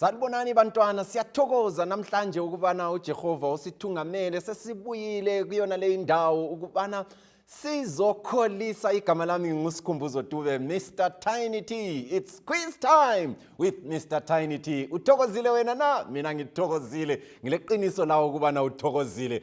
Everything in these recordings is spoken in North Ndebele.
Sanibonani bantwana siyathokoza namhlanje ukubana uJehova usithungamele sesibuyile kuyona le indawo ukubana sizokholisa igama lami ngusikhumbuzo dube mr tiny t its quiz time with mr tiny t uthokozile wena na mina ngithokozile ngileqiniso lawo ukubana uthokozile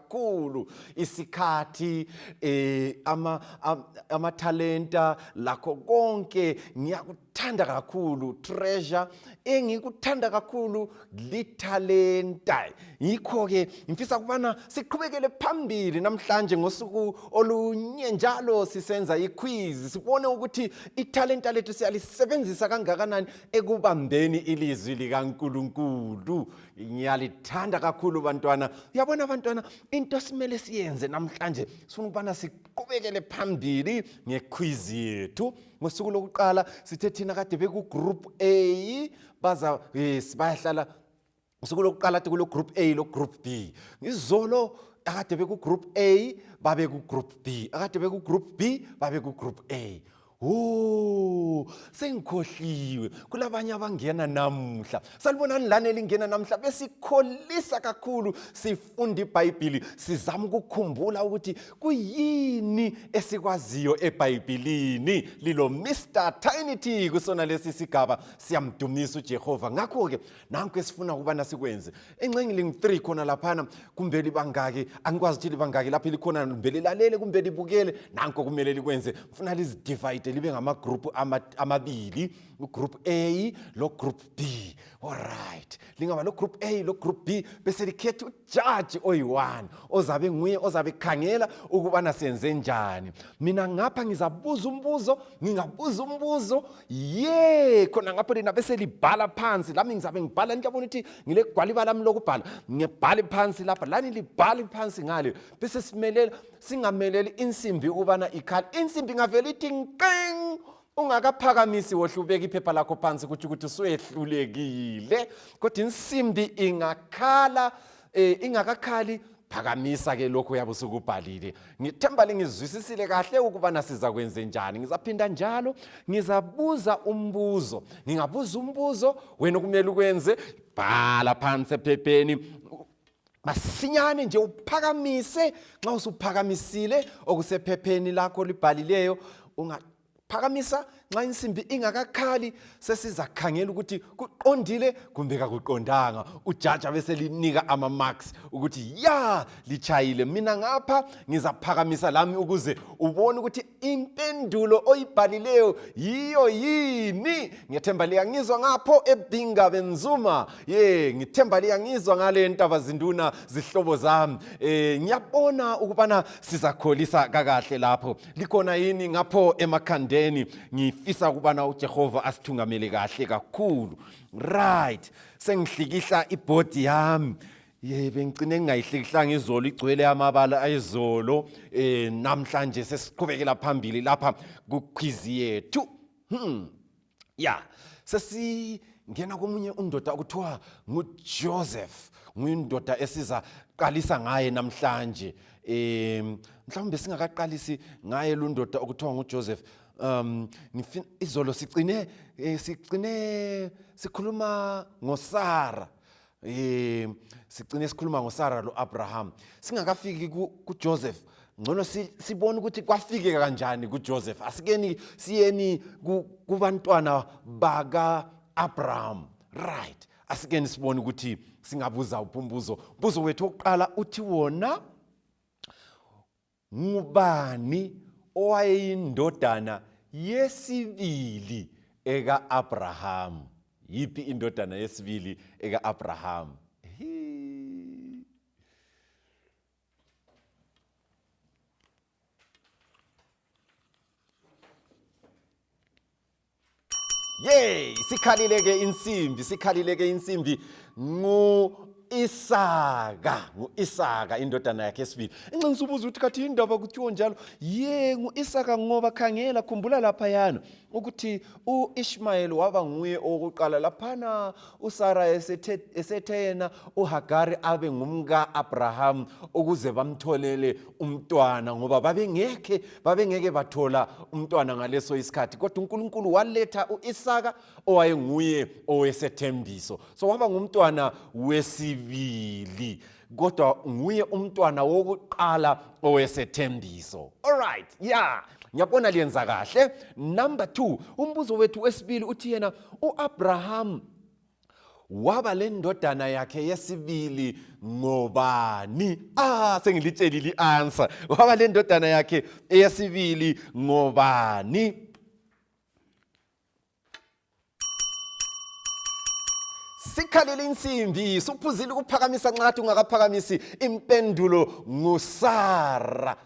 kakhulu isikhathi eh ama amathalenta lakho konke ngiyakuthanda kakhulu treasure engikuthanda kakhulu lithalenta yikho ke ngifisa kubana siqhubekele phambili namhlanje ngosuku olunye njalo sisenza iquiz sibone ukuthi ithalenta lethu siyalisebenzisa kangakanani ekubambeni ilizwi likaNkuluNkulu ngiyalithanda kakhulu bantwana uyabona bantwana into esimele siyenze namhlanje sifuna ukubana siqhubekele phambili ngekhwizi yethu ngosuku lokuqala sithe thina kade bekugroup a baza yes bayahlala ngosuku lokuqala ti kulo-group a lo-group b ngizolo akade bekugroup a babekugroup b akade bekugroup b babekugroup a Oh, sengikhohliwe kulabanye abangena namuhla salibonani lani elingena namuhla besikholisa kakhulu sifunda ibhayibhili sizama ukukhumbula ukuthi kuyini esikwaziyo ebhayibhilini lilo mr tinity kusona lesi sigaba siyamdumisa ujehova ngakho-ke nanku esifuna ukubana sikwenze enxengi lingu-three khona laphana kumbe libangaki angikwazi ukuthi libangaki lapho likhona kumbe lilalele kumbe libukele nanko kumele likwenze funa lizidivide libe ngamagrupu amabili ugroup a logroup b olright lingaba logroup a logroup b bese likhetha jaji oyi-one ozabe nguye ozabe khangela ukubana senze njani mina ngapha ngizabuza umbuzo ngingabuza umbuzo ye khona ngapho lina beselibhala phansi lami ngizabe ngibhala niyabona ukuthi ngilegwaliba lami lokubhala ngibhale phansi lapha lani libhale phansi ngale bese simelela singameleli insimbi ukubana ikhale insimbi ingavele ithi nqing ungakaphakamisi wohle ubeka iphepha lakho phansi kutsho ukuthi usuyehlulekile kodwa insimbi ingakhala um ingakakhali phakamisa ke lokhu uyabe usukubhalile ngithemba lingizwisisile kahle ukubana siza kwenze njani ngizaphinda njalo ngizabuza umbuzo ngingabuza umbuzo wena okumele ukwenze bhala phansi ephepheni masinyane nje uphakamise nxa usuphakamisile okusephepheni lakho olibhalileyo ungaphakamisa nxa insimbi ingakakhali sesizakhangela ukuthi kuqondile kumbe kakuqondanga ujaja beselinika ama-marks ukuthi ya litshayile mina ngapha ngizaphakamisa lami ukuze ubone ukuthi impendulo oyibhalileyo yiyo yini ngethemba liyangizwa ngapho ebhinga benzuma ye ngithemba liyangizwa ngale ntaba zinduna zihlobo zami eh ngiyabona ukubana sizakholisa kakahle lapho likhona yini ngapho emakhandeni ngifisa ukubana uJehova asithungamele kahle kakhulu right sengihlikihla ibody yami ye bengicine ngingayihlikihlanga izolo igcwele amabala ayizolo um eh, namhlanje sesiqhubekela phambili lapha kukhwizi yethu hmm. ya sesingena komunye undoda okuthiwa ngujoseph nguyindoda esiza qalisa ngaye namhlanje um mhlawumbe singakaqalisi ngaye lu ndoda okuthiwa ngujoseph um izolo sicine eh, sicine sikhuluma ngosara Eh sigcine sikhuluma ngoSara loAbraham. Singakafiki kuJoseph ngcono sibone ukuthi kwafike kanjani kuJoseph. Asikeni siyeni kubantwana baka Abraham. Right. Asikeni sibone ukuthi singabuza upumbuzo. Mbuzo wethu oqala uthi wona Ngubani owayeyindodana yesibili eka-Abrahamu? Yiphi indodana yesibili eka-Abrahamu? Yay! Sikhalileke insimbi, sikhalileke insimbi ngu Isaka, ngu-Isaka indodana yakhe esibili. Inxenxa ubuza ukuthi kathi indaba kuthiwa njalo, ye ngu-Isaka ngoba khangela khumbula laphayana ukuthi u-Ishmayeli waba nguye owokuqala laphana uSara esethe yena uHagari abe ngumka-Abraham ukuze bamtholele umntwana ngoba babengekhe babengeke bathola umntwana ngaleso isikhathi kodwa uNkulunkulu waletha uIsaka owayenguye owesethembiso so waba ngumntwana wesibili kodwa nguye umntwana wokuqala owesethembiso all right yeah ngiyabona liyenza kahle number 2 umbuzo wethu wesibili uthi yena uAbraham waba lendodana yakhe yesibili ngobani ah sengilitshelile i-answer waba lendodana yakhe eyesibili ngobani sikhalele insimbi suphuzile ukuphakamisa nxathi ungakaphakamisi impendulo ngusara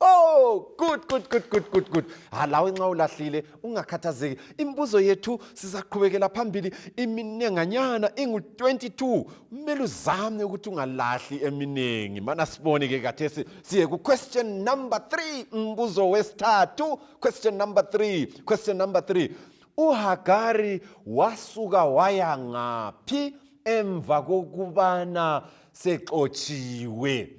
Oh, good good good good good good. Ha ah, lawe nxa ulahlile ungakhathazeki. Imibuzo yethu sizaqhubekela phambili iminenganyana ingu 22. Kumele uzame ukuthi ungalahli eminingi. Mana sibone ke kathesi siye ku question number 3 umbuzo wesithathu. Question number 3. Question number 3. UHagari wasuka waya ngaphi emva kokubana sexotshiwe?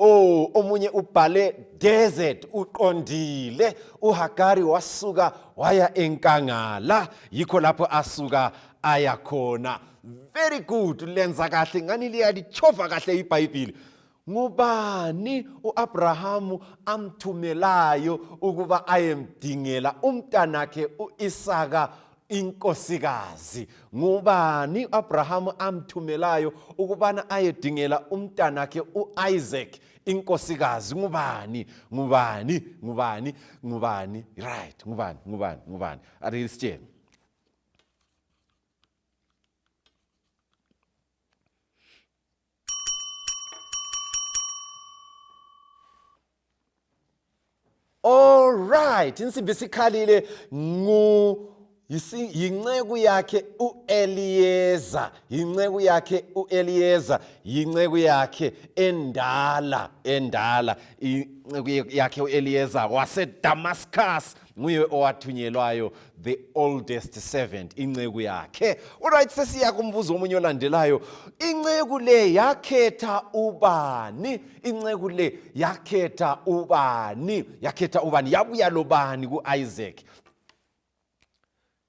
Oh, omunye ubhale desert uqondile uHagari wasuka waya enkangala yikho lapho asuka aya khona very good lenza kahle ngani liyalichova kahle ibhayibhili ngubani uAbrahamu amthumelayo ukuba ayemdingela umntanakhe uIsaka inkosikazi ngubani u-abrahamu amthumelayo ukubana ayedingela umntanakhe u-isaac inkosikazi ngubani ngubani ngubani ngubani right ngubani ngubani ngubani arisitsheni Alright, insimbi sikhalile ngu yinceku yakhe uEliyeza, yinceku yakhe uEliyeza, yinceku yakhe endala, endala, inceku yakhe uEliyeza waseDamascus nguye owathunyelwayo the oldest servant inceku yakhe uright sesiya kumbuzo omunye olandelayo inceku le yakhetha ubani inceku le yakhetha ubani yakhetha ubani yabuya lobani ku-isaac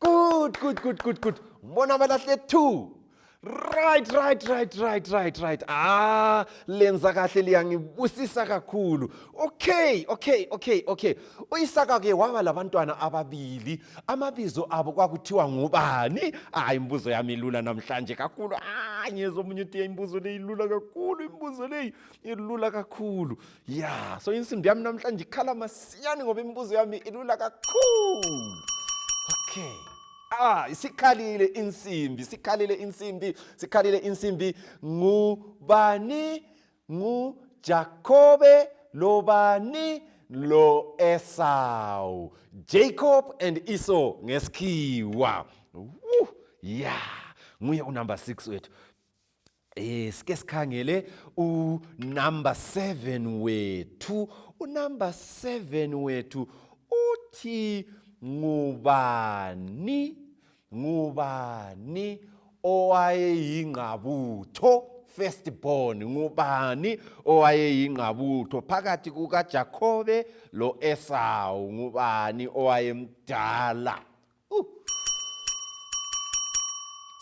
Good, good, good, good, good. Mbona abalahle two. Right, right, right, right, right, right. Ah, lenza kahle liyangibusisa kakhulu. Okay, okay, okay, okay. Uyisaka ke waba labantwana ababili. Amabizo abo kwakuthiwa ngubani? Hayi imbuzo yami ilula namhlanje kakhulu. Ah, ngiyezwa omunye uthi imbuzo leyi ilula kakhulu, imbuzo leyi ilula kakhulu. ya so insimbi yami namhlanje ikhala masiyani ngoba imibuzo yami ilula kakhulu okay ah isikhalile insimbi sikhalile insimbi sikhalile insimbi ngubani ngujakobe lobani lo esau jacob and esau ngesikhiwa ya yeah. nguye unumber 6 wethu Eh sike sikhangele u number 7 wethu. U number 7 wethu uthi ngubani ngubani owayeyingqabutho first born ngubani owayeyingqabutho phakathi kukaJakobe loEsawu ngubani owayemdala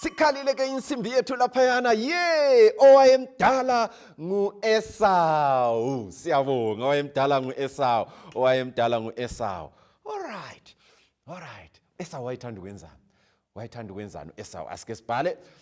sikhalile ke insimbi yethu laphayana ye owayemdala ngu-esawu siyabonga owayemdala ngu-esawu owayemdala ngu-esawu olright olright esawu wayethanda ukwenzani wayethanda ukwenzani u-esawu asike sibhale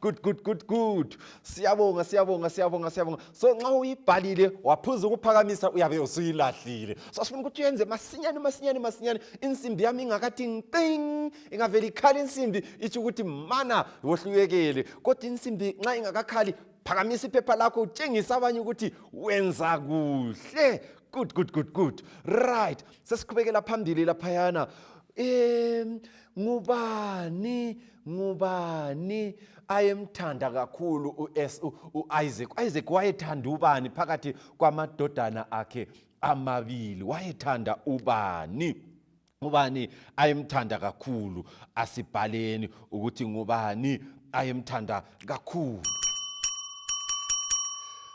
good good good good siyabonga siyabonga siyabonga siyabonga so nxa uyibhalile waphuza ukuphakamisa uyabe usuyilahlile so sifuna ukuthi uyenze masinyane masinyane masinyane insimbi yami ingakathi nqing ingavele ikhale insimbi itsho ukuthi mana wohluyekele kodwa insimbi nxa ingakakhali phakamisa iphepha lakho utshengisa abanye ukuthi wenza kuhle good good good good right sesiqhubekela phambili laphayana um ngubani ngubani ayemthanda kakhulu u-isaac u-isaac wayethanda ubani phakathi kwamadodana akhe amabili wayethanda ubani ngubani ayemthanda kakhulu asibhaleni ukuthi ngubani ayemthanda kakhulu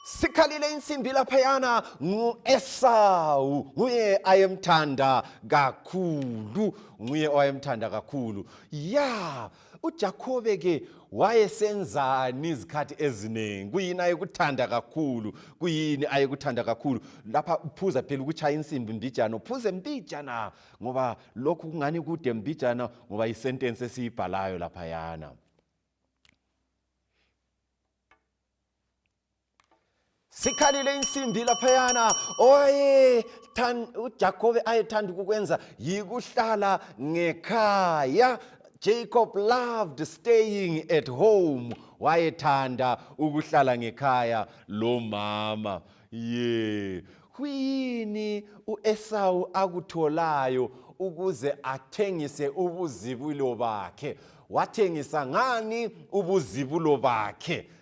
sikhalile insimbi laphayana ngu-esawu nguye ayemthanda kakhulu nguye owayemthanda kakhulu ya ujakhobe ke wayesenzani izikhathi eziningi kuyini ayekuthanda kakhulu kuyini ayekuthanda kakhulu lapha uphuza phela ukutshaya insimbi mbijana uphuze mbijana ngoba lokhu kungani kude mbijana ngoba yisentensi esiyibhalayo laphayana sikhalile insimbi laphayana ujakobe ayethanda ukukwenza yikuhlala ngekhaya jacob loved staying at home wayethanda ukuhlala ngekhaya lomama ye kuyini uesawu akutholayo ukuze athengise ubuzibulo bakhe wathengisa ngani ubuzibulo bakhe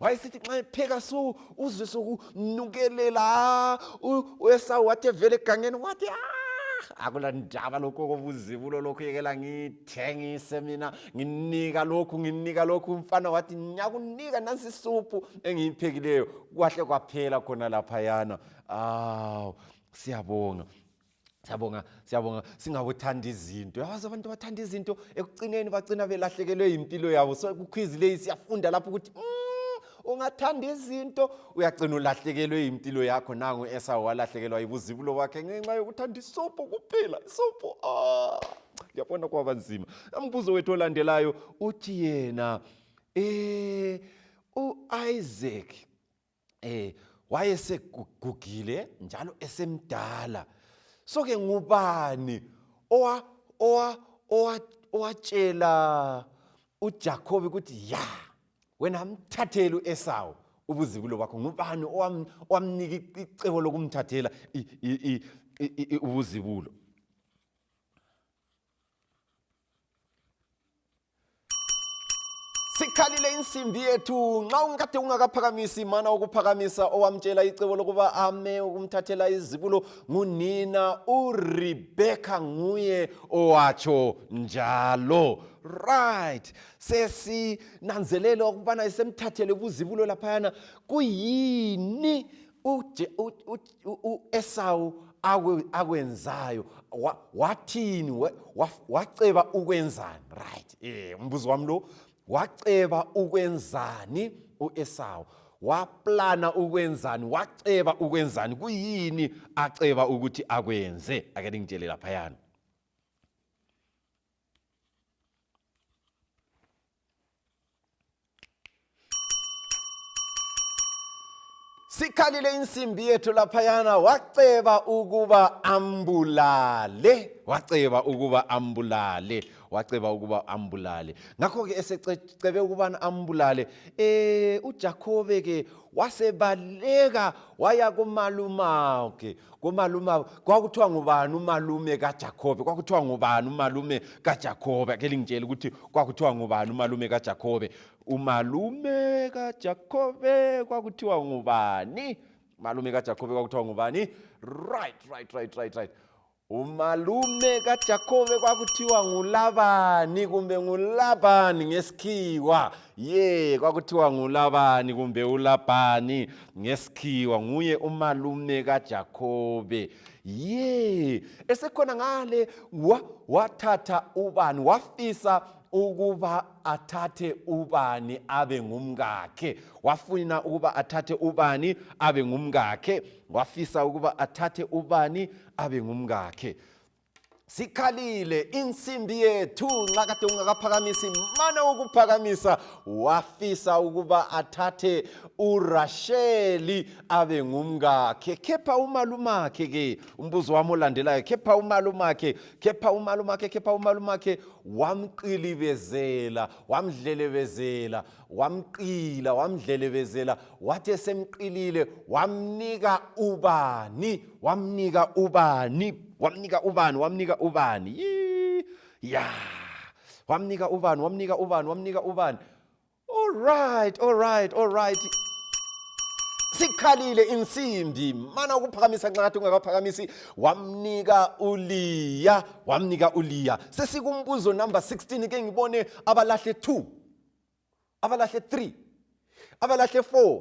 wayesithi nxa epheka so uzwe sokunukelela uesawu wathi evele egangeni wathi ah, akula ndaba lokhu kobuzibulo lokhu yekela ngithengise mina nginika lokhu nginika lokhu umfana wathi ngiyakunika nansi isuphu engiyiphekileyo kwahle kwaphela khona laphayana awu siyabonga Siyabonga, siyabonga singabothanda izinto. Yazi abantu bathanda izinto ekucineni bagcina belahlekelwe impilo yabo. So kukhwizi leyi siyafunda lapho ukuthi mm, ungathanda izinto uyagcina ulahlekelwe impilo yakho nangu esawo walahlekelwa yibuzibulo bakhe ngenxa yokuthanda isobho kuphela. Isobho ah yabona kwaba nzima. Umbuzo wethu olandelayo uthi yena eh uIsaac eh wayesegugile njalo esemdala so ke ngubani owa owa owa owatshela uJakobe ukuthi ya wena mthathele uEsawu ubuzibulo bakho ngubani owamnika icebo lokumthathela ubuzibulo sikhalile insimbi yethu nxa ungikade ungakaphakamisi mana ukuphakamisa owamtshela icebo lokuba ame ukumthathela izibulo ngunina urebekha nguye owatsho njalo right sesinanzelele ukubana isemthathele ubuzibulo laphayana kuyini uEsawu akwenzayo wathini waceba ukwenzani right eh umbuzo wami lo waceba ukwenzani uEsawu waplana ukwenzani waceba ukwenzani kuyini aceba ukuthi akwenze ake ngitshele laphayana sikhalile insimbi yethu laphayana waceba ukuba ambulale waceba ukuba ambulale waceba ukuba ambulale ngakho-ke esecebe ukubana ambulale um ujakhobe-ke wasebaleka waya kumalumawuke komalume abo kwakuthiwa ngubani umalume kaJakobe kwakuthiwa ngubani umalume kaJakobe ake lingitshela ukuthi kwakuthiwa ngubani umalume kaJakobe umalume kaJakobe kwakuthiwa ngubani malume kaJakobe kwakuthiwa ngubani right right right right right umalume kaJakobe kwakuthiwa ngulabani kumbe ngulabani ngesikhiwa ye kwakuthiwa ngulabani kumbe ulabhani ngesikhiwa nguye umalume kaJakobe ye esekhona ngale wathatha ubani wafisa ukuba athathe ubani abe ngumkakhe wafuna ukuba athathe ubani abe ngumkakhe wafisa ukuba athathe ubani abe ngumkakhe sikhalile insimbi yethu nxa kade ungakaphakamisi mane ukuphakamisa wafisa ukuba athathe urasheli abe ngumkakhe khepha umalumakhe ke umbuzo wami olandelayo khepha umalumakhe khepha umalumakhe khepha umalumakhe wamqilibezela wamdlelebezela wamqila wamdlelebezela wathi esemqilile wamnika ubani wamnika ubani wamnika ubani wamnika ubani ya wamnika ubani wamnika ubani wamnika ubani all right all right all right sikhalile insimbi mana ukuphakamisa nxathi ungakaphakamisi wamnika uliya wamnika uliya sesikumbuzo number 16 ke ngibone abalahle 2 abalahle 3 abalahle 4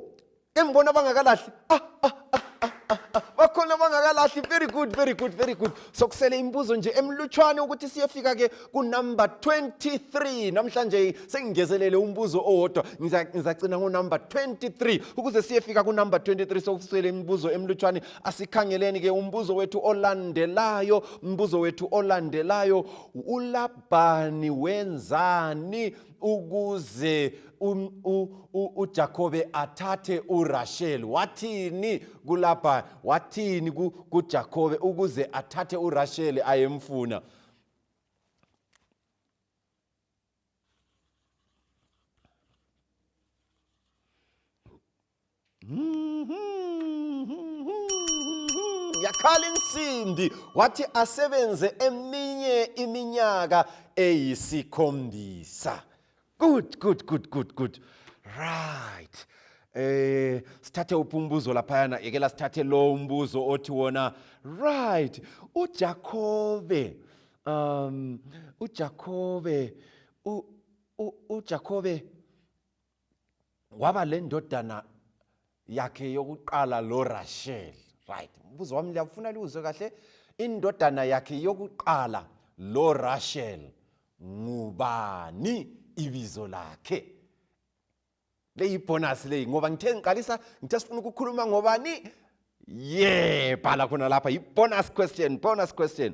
engibona bangakalahli ah, ah, ah, ah, ah, ah. bakhona bangakalahli very good very good very good sokusele imibuzo nje emlutshwane ukuthi siyefika ke kunumber 23 namhlanje sengingezelele umbuzo owodwa Ngiza- ngizacina ngonumber 23 ukuze siyefika kunumber 23 sokusele imibuzo emlutshwane asikhangeleni ke umbuzo wethu olandelayo umbuzo wethu olandelayo ulab uLabhani wenzani ukuze uJakobe athathe uRasheli wathini kulabha wathini kuJakobe ukuze athathe uRasheli ayemfuna yakhala insimbi wathi asebenze eminye iminyaka eyisikhombisa good good good good good right eh sithathe uphi umbuzo laphayana yekela sithathe lo umbuzo othi wona right uJakobe um uJakobe uJakobe waba le ndodana yakhe yokuqala lorashel right mbuzo wami liyakufuna liwuzwe kahle indodana yakhe yokuqala lorashel ngubani ibizo lakhe leyibhonasi leyi ngoba ngithe ngiqalisa ngithe sifuna ukukhuluma ngobani ye bhala khona lapha yi-bonus question bonus question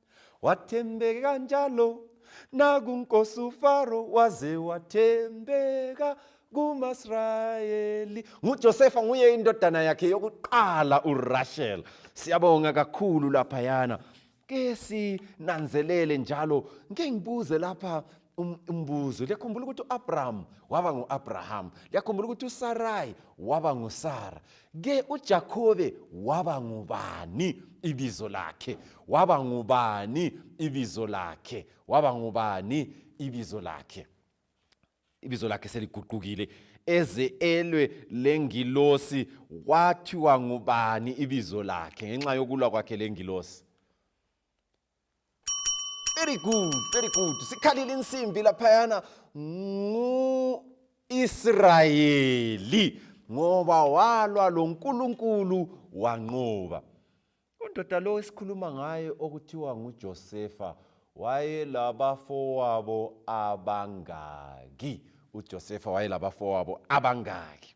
Watembeka njalo nakunkosi uFaro waze wathembeka kumasrayeli ngujosefa nguye indodana yakhe yokuqala urashel siyabonga kakhulu laphayana ke sinanzelele njalo ngike ngibuze lapha Um, umbuzo liyakhumbula ukuthi u-abrahamu waba ngu-abrahamu liyakhumbula ukuthi usarayi waba ngusara ke ujakobe waba ngubani ibizo lakhe waba ngubani ibizo lakhe waba ngubani ibizo lakhe ibizo lakhe seliguqukile eze elwe lengilosi kwathiwa ngubani ibizo lakhe ngenxa yokulwa kwakhe lengilosi very good very good sikhalile insimbi laphayana ngu-israyeli ngoba walwa lo nkulunkulu wanqoba undoda lo esikhuluma ngaye okuthiwa ngujosefa wayelabafowabo abangaki uJosefa wayelabafowabo abangaki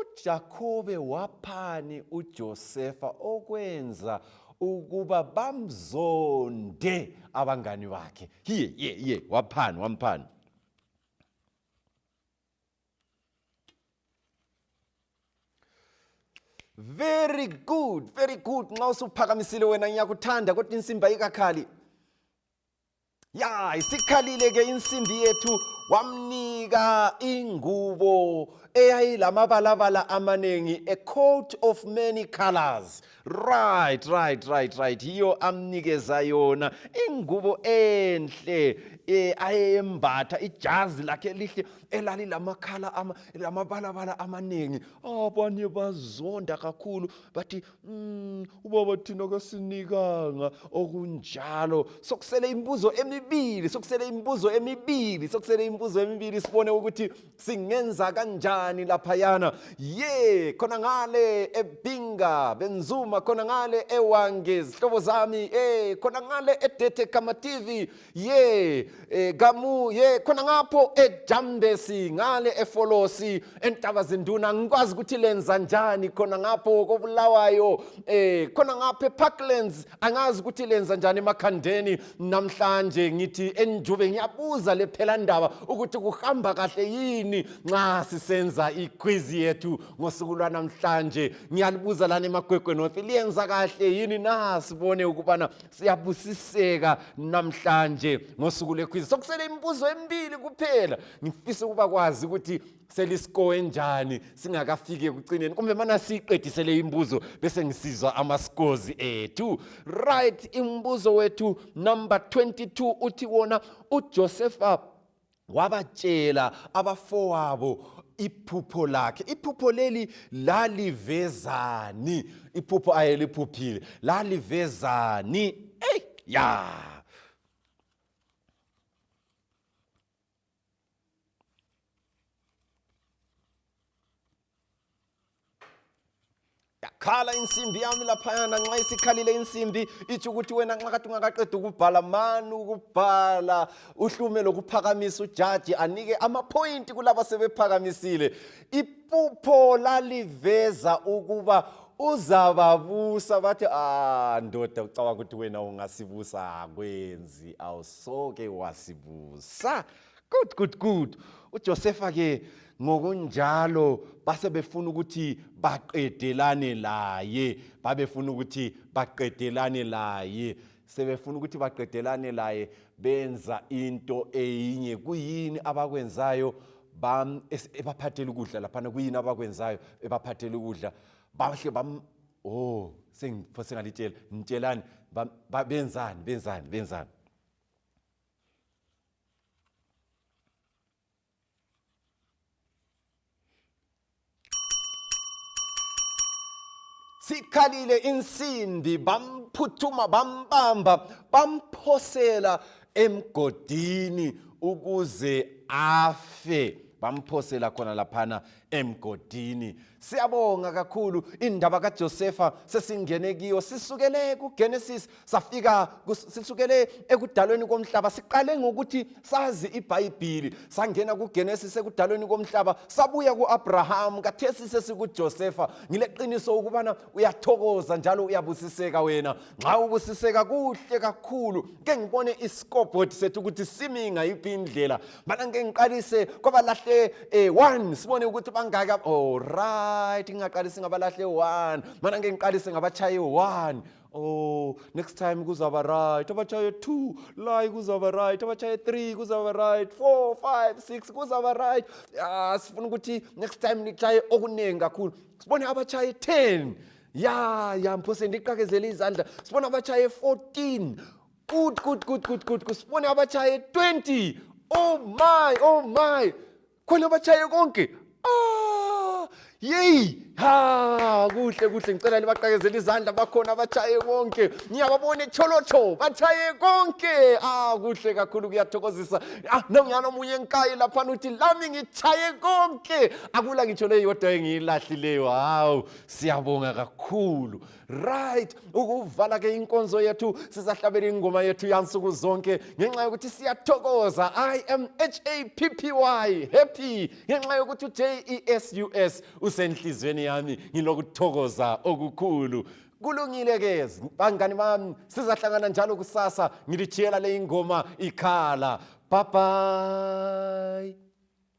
UJakobe waphani uJosefa okwenza ukuba bamzonde abangani bakhe hiye ye ye waphani wamphani very good very good nxa usuphakamisile wena ngiyakuthanda kodwa insimba ikakhali ya isikhalile ke insimbi yethu wamnika ingubo eyayilamabalabala amaningi a coat of many colors right right right right yiyo amnikeza yona ingubo enhle eh ayembatha ijazi lakhe lihle elali lamakhala ama lamabalabala amaningi abanye bazonda kakhulu bathi Mm, ubaba thina kasinikanga okunjalo sokusele imibuzo emibili sokusele imibuzo emibili sokusele imibuzo emibili sibone ukuthi singenza kanjani laphayana ye khona ngale ebinga benzuma khona ngale ewange zihlobo zami eh khona ngale edete kama tv ye e, gamu ye khona ngapho ejambesi ngale efolosi entaba zinduna ngikwazi ukuthi lenza njani khona ngapho kobulawayo eh khona ngapho eparklands angazi ukuthi lenza njani emakhandeni namhlanje ngithi enjube ngiyabuza lephela ndaba ukuthi kuhamba kahle yini nxa sisenza iquiz yethu ngosuku lwanamhlanje ngiyalibuza lana emagwegwe north liyenza kahle yini na sibone ukubana siyabusiseka namhlanje ngosuku lwekhwizi sokusele imibuzo emibili kuphela ngifisa ukuba kwazi ukuthi selisikowe njani singakafiki ekucineni kumbe mana siyiqedisele imibuzo bese ngisizwa amasikozi ethu right imibuzo wethu number 22 uthi wona uJosepha wabatshela abafowabo iphupho lakhe iphupho leli lalivezani iphupho ayeliphuphile lalivezani eyi ya yakhala insimbi yami laphayana nxa isikhalile insimbi itsho ukuthi wena nxa kade ungakaqeda ukubhala mani ukubhala uhlume lokuphakamisa ujaji anike amaphoyinti kulaba sebephakamisile iphupho laliveza ukuba uzababusa bathi ah ndoda ucabanga ukuthi wena ungasibusa akwenzi awusoke wasibusa Good, good, good. UJosefa ke ngokunjalo base befuna ukuthi baqedelane laye, babefuna ukuthi baqedelane laye. Sebefuna ukuthi baqedelane laye benza into eyinye. Kuyini abakwenzayo? Bam ebaphathela ukudla laphana kuyini abakwenzayo ebaphathela ukudla? Bahle bam oh sengiphosengalitshelani benzani benzani benzani sikhalile insimbi bamphuthuma bambamba bamphosela emgodini ukuze afe bamphosela khona laphana emgodini siyabonga kakhulu indaba kaJosefa sesingene kiyo sisukele kuGenesis safika sisukele ekudalweni komhlaba siqale ngokuthi sazi iBhayibhili sangena kuGenesis ekudalweni komhlaba sabuya kuAbraham kathesi sesikuJosefa ngileqiniso ukubana uyathokoza njalo uyabusiseka wena nxa ubusiseka kuhle kakhulu ke ngibone isikobhodi sethu ukuthi simi ngayiphi indlela bana ngike ngiqalise kwabalahle eh, one sibone ukuthi bangaki olright oh, ngingaqalisi ngabalahle one mana ngike ngiqalise ngabatshaye one oh next time kuzaba right abatshaye two layi kuzaba right abatshaye three kuzaba right four five six kuzaba right ah sifuna ukuthi next time nitshaye okuningi kakhulu sibone abatshaye ten ya ya mphose ndiqakezele izandla sibona abatshaye 14 Good, good, good, good, good. Kusibone abatshaye 20. Oh my, oh my. Khona abatshaye konke. Ah! Yey! Ha, kuhle kuhle ngicela libaqakezela izandla bakhona abatshaye konke. Ngiyababona echolocho, batshaye konke. Ah, kuhle kakhulu kuyathokozisa. Ah, nangiyana omunye enkayi lapha uthi lami ngitshaye konke. Akula ngitsho leyo yodwa engiyilahlileyo. Hawu, siyabonga kakhulu. right ukuvala ke inkonzo yethu sisahlabela ingoma yethu yansuku zonke ngenxa yokuthi siyathokoza i am happy happy ngenxa yokuthi ujesus usenhliziyweni yami ngilokuthokoza okukhulu kulungile ke bangani bami sizahlangana njalo kusasa ngilitshiyela le ingoma ikhala bye bye